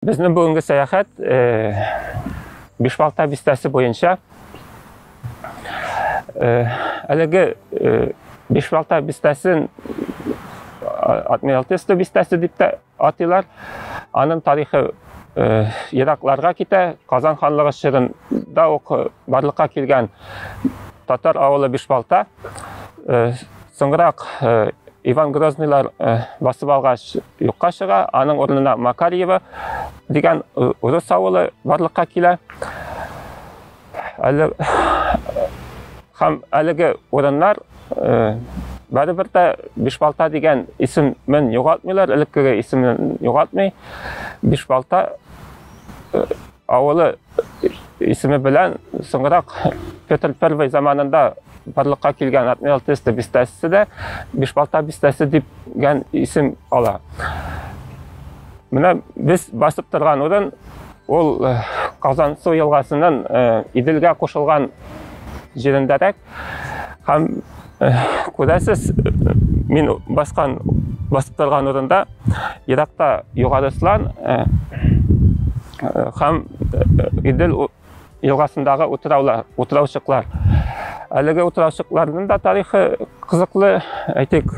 Безнең бүгенге сәяхәт Бишбалта бистәсе буенча әлеге Бишбалта бистәсен Адмиралтесто бистәсе дип тә атыйлар. Аның тарихы еракларга китә. Казан ханлыгы чорында ук барлыкка килгән татар авылы Бишбалта. Соңрак Иван Грознылар э, басып алгач юкка чыга, аның урынына Макарьева дигән э, урыс авылы барлыкка килә. Әле һәм әлеге урыннар э, бәрібір дә бишбалта деген исемен югалтмыйлар элеккеге исемен югалтмый бишбалта э, авылы исеме белән соңрак Петр I заманында барлыкка килгән Отмел Тесте бистәсе дә Бишбалта бистәсе дигән исем ала. Менә без басып торган урын ул Казансу елгасының Иделгә кушылган җирендәрәк. Һәм күрәсез, мин баскан басып торган урында еракта Югары Слан һәм Идел елгасындагы утыраулар, утыраучыклар. Әлеге утыраучыкларның да тарихы кызыклы, әйтик,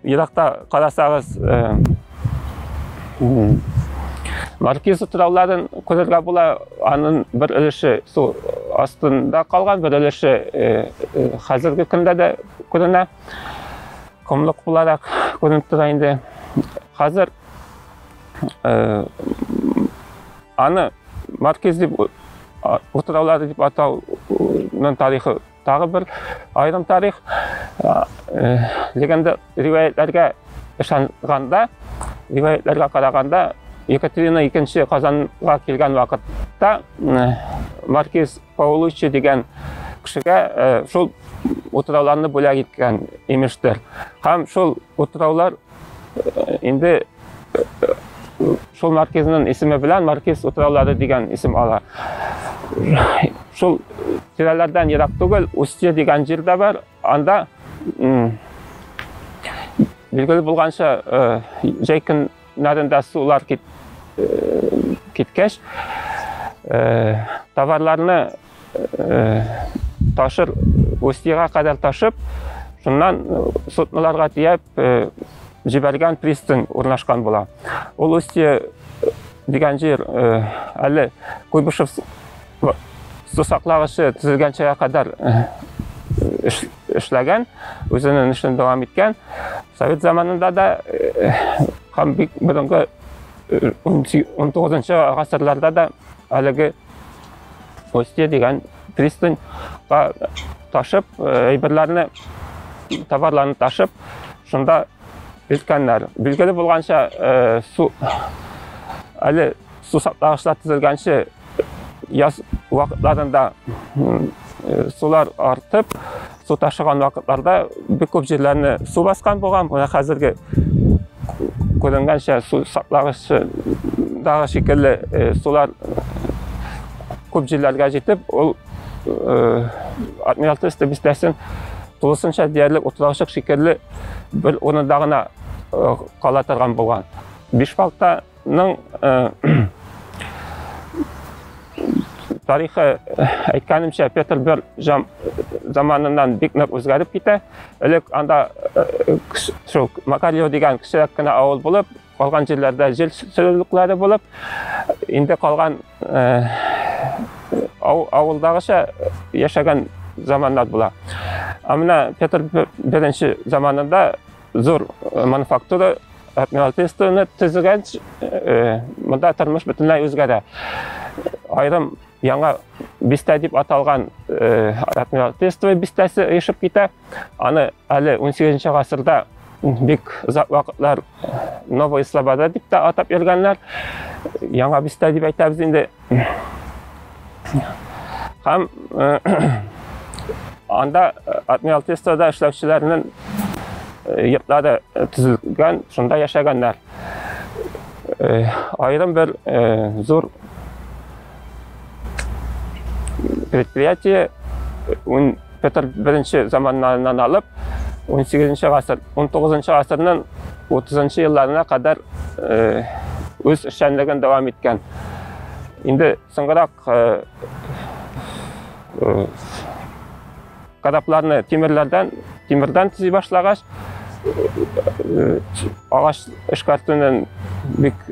еракта карасагыз, Маркиз утрауларын күрергә була, аның бер өлеше су астында калган, бер өлеше э, э, хәзерге көндә дә күренә. Комлык буларак күренеп тора инде. Хәзер э, аны Маркиз дип утраулары дип атауның тарихы Тагы бер айрым тарих. Легенда риваятләргә ышанганда, риваятләргә караганда, Екатерина II Казанга килгән вакытта маркиз Паулуччи дигән кешегә шул утрауларны бүләк иткән имештер. Һәм шул утраулар инде шул маркизнын исеме белән маркиз утраулары дигән исем ала шул тирәләрдән ерак түгел устье дигән җир дә бар анда билгеле булганча җәй көннәрендә сулар кит, киткәч товарларны Ташыр Устьега кадәр ташып, шуннан судноларга тияп җибәргән пристань урнашкан була. Ул Устье дигән җир әле Куйбышев сусаклагычы төзелгәнчегә кадәр эшләгән, үзенең эшен дәвам иткән. Совет заманында да һәм бик борынгы 19 гасырларда да әлеге Устье дигән пристаньга ташып, э, әйберләрне, товарларны ташып, шунда өлкәннәр. Билгеле булганча, э, су әле су сакланышлар төзелгәнче яз вакытларында э, сулар артып, су ташыган вакытларда бик күп җирләрне су баскан булган менә хәзерге күренгәнчә су саклагычдагы шикелле э, сулар күп җирләргә җитеп ул э, адмиралтество бистәсен тулысынча диярлек утыраучык шикелле бер урында гына э, кала торган булган биш балта Ның тарихы әйткәнемчә Петр I заманыннан бик нык үзгәреп китә. Элек анда шул Макарьев дигән кечерәк кенә авыл булып, калган җирләрдә җил сөрүлекләре булып, инде калган авылдагыча яшәгән заманнар була. Ә менә Петр I заманында Зур э, мануфактура адмиралтействоны төзегәнч э, монда тормыш бөтенләй үзгәрә. Айрым яңа бистә дип аталган э, адмиралтейство бистәсе оешып китә. Аны әле 18 гасырда бик озак вакытлар Новая Слобода дип тә атап йөргәннәр. Яңа бистә дип әйтәбез инде. Һәм анда Адмирал Тестада эшләүчеләрнең йортлары төзелгән, шунда яшәгәннәр. Аерым бер зур предприятие Петр I заманнарынан алып, 18 гасыр, 19 гасырның 30 елларына кадәр э, үз эшчәнлеген дәвам иткән. Инде соңрак э, э, кадапларны тимерләрдән, тимердән төзи башлагач, агач эшкәртүнең бик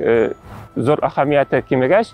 зур әһәмияте кимегәч,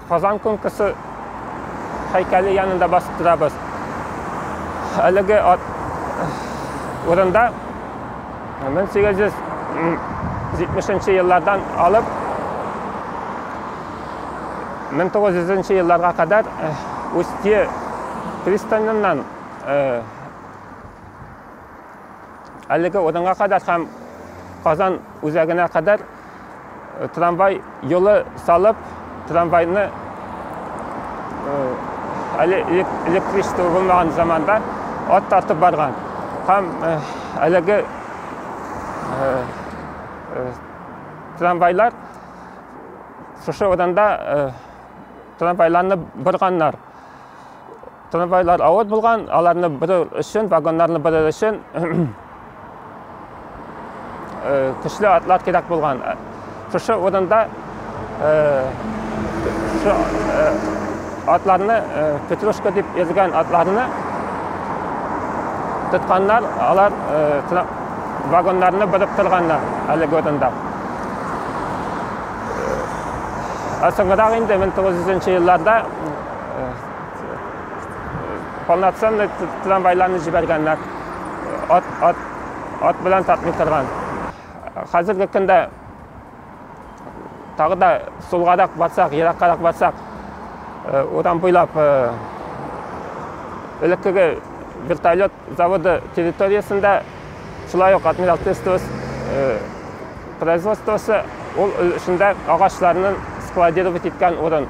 Казан конкурсы һәйкәле янында басып торабыз. Әлеге ат урында 1870 еллардан алып 1900 елларга кадәр Устье пристаненнан әлеге урынга кадәр һәм Казан үзәгенә кадәр э, трамвай юлы салып, трамвайны э, әле электричество булмаган заманда ат тартып барган. Һәм э, әлеге трамвайлар шушы урында трамвайларны борганнар. Трамвайлар авыр булган, аларны бирү өчен, вагоннарны бирү өчен көчле атлар кирәк булган. Шушы урында шушы атларны, петрушка дип йөргән атларны тотканнар, алар вагоннарны биреп торганнар әлеге урында. Ә соңрак инде 1900 елларда полноценный трамвайларны җибәргәннәр ат, ат, ат белән тартмый торган хәзерге көндә тагы да сулгарак барсак ераккарак барсак э, урам буйлап э, элеккеге вертолет заводы территориясендә шулай ук адмирал тестос э, производствосы ул эшендә агачларны складировать иткән урын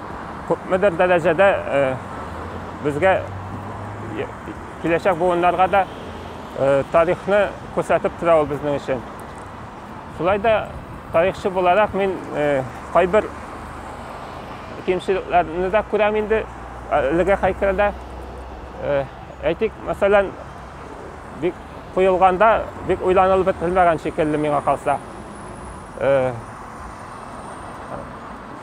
күпмедер дәрәҗәдә безгә киләчәк буыннарга да тарихны күрсәтеп тора ул безнең өчен. Шулай да тарихчы буларак мин кайбер кимчелекләрне дә күрәм инде әлеге хәйкәлдә. Әйтик, мәсәлән, бик куелганда бик уйланылып бетерелмәгән шикелле миңа калса.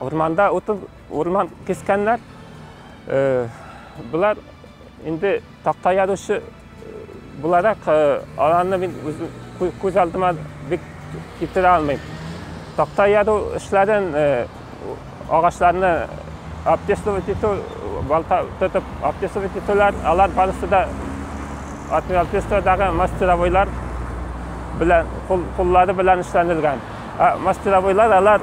Урманда утын, урман кескәннәр. Э, Булар инде такта яручы буларак э, аларны мин үзем күз алдыма бик китерә алмыйм. Такта яру эшләрен э, агачларны обтесывать итү, балта тотып обтесывать итүләр, алар барысы да отверстиедагы мастеровойлар белән куллары белән эшләнелгән. Мастеровойлар алар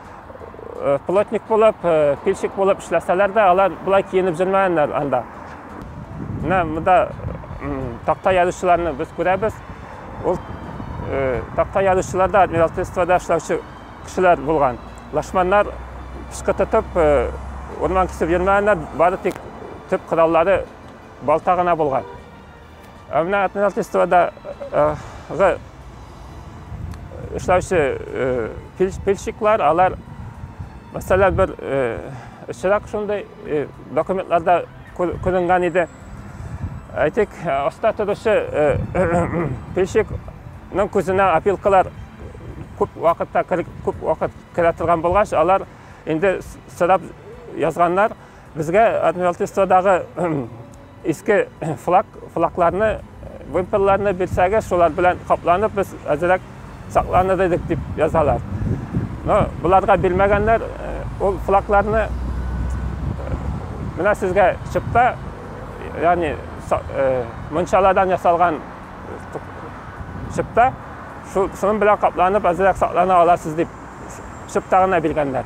плотник булып, пильщик булып эшләсәләр дә, алар болай киенеп җөрмәгәннәр анда. Менә монда такта язучыларны без күрәбез. Ул такта язучылар да адмиралтействода эшләүче кешеләр булган. Лашманнар пычкы тотып, урман кисеп йөрмәгәннәр, бары тик төп кораллары балта гына булган. Ә менә Атминалтистовадагы э, эшләүче э, пильщиклар, алар, мәсәлән, бер очрак шундый документларда күренгән иде. Әйтик, аста торучы пильщикның күзенә опилкалар күп вакытта күп вакыт керә торган булгач, алар инде сорап язганнар, Безгә Адмиралтействодагы иске флаг, флагларны, вымпелларны бирсәгез, шулар белән капланып без әзерәк сакланыр идек дип язалар. Но боларга бирмәгәннәр ул флагларны. Менә сезгә чыпта, ягъни мунчаладан ясалган чыпта, шуның белән капланып әзерәк саклана аласыз дип чыпта гына биргәннәр.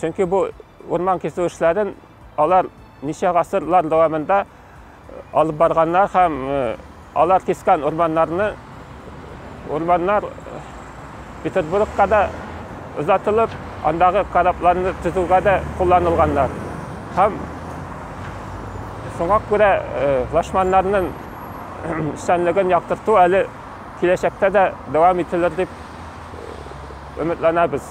Чөнки бу урман кисү эшләрен алар ничә гасырлар дәвамында алып барганнар һәм алар кискән урманнарны урманнар Петербургка да озатылып, андагы корабларны төзүгә дә кулланылганнар. Һәм шуңа күрә лашманнарның эшчәнлеген яктырту әле киләчәктә дә дәвам ителер дип өметләнәбез.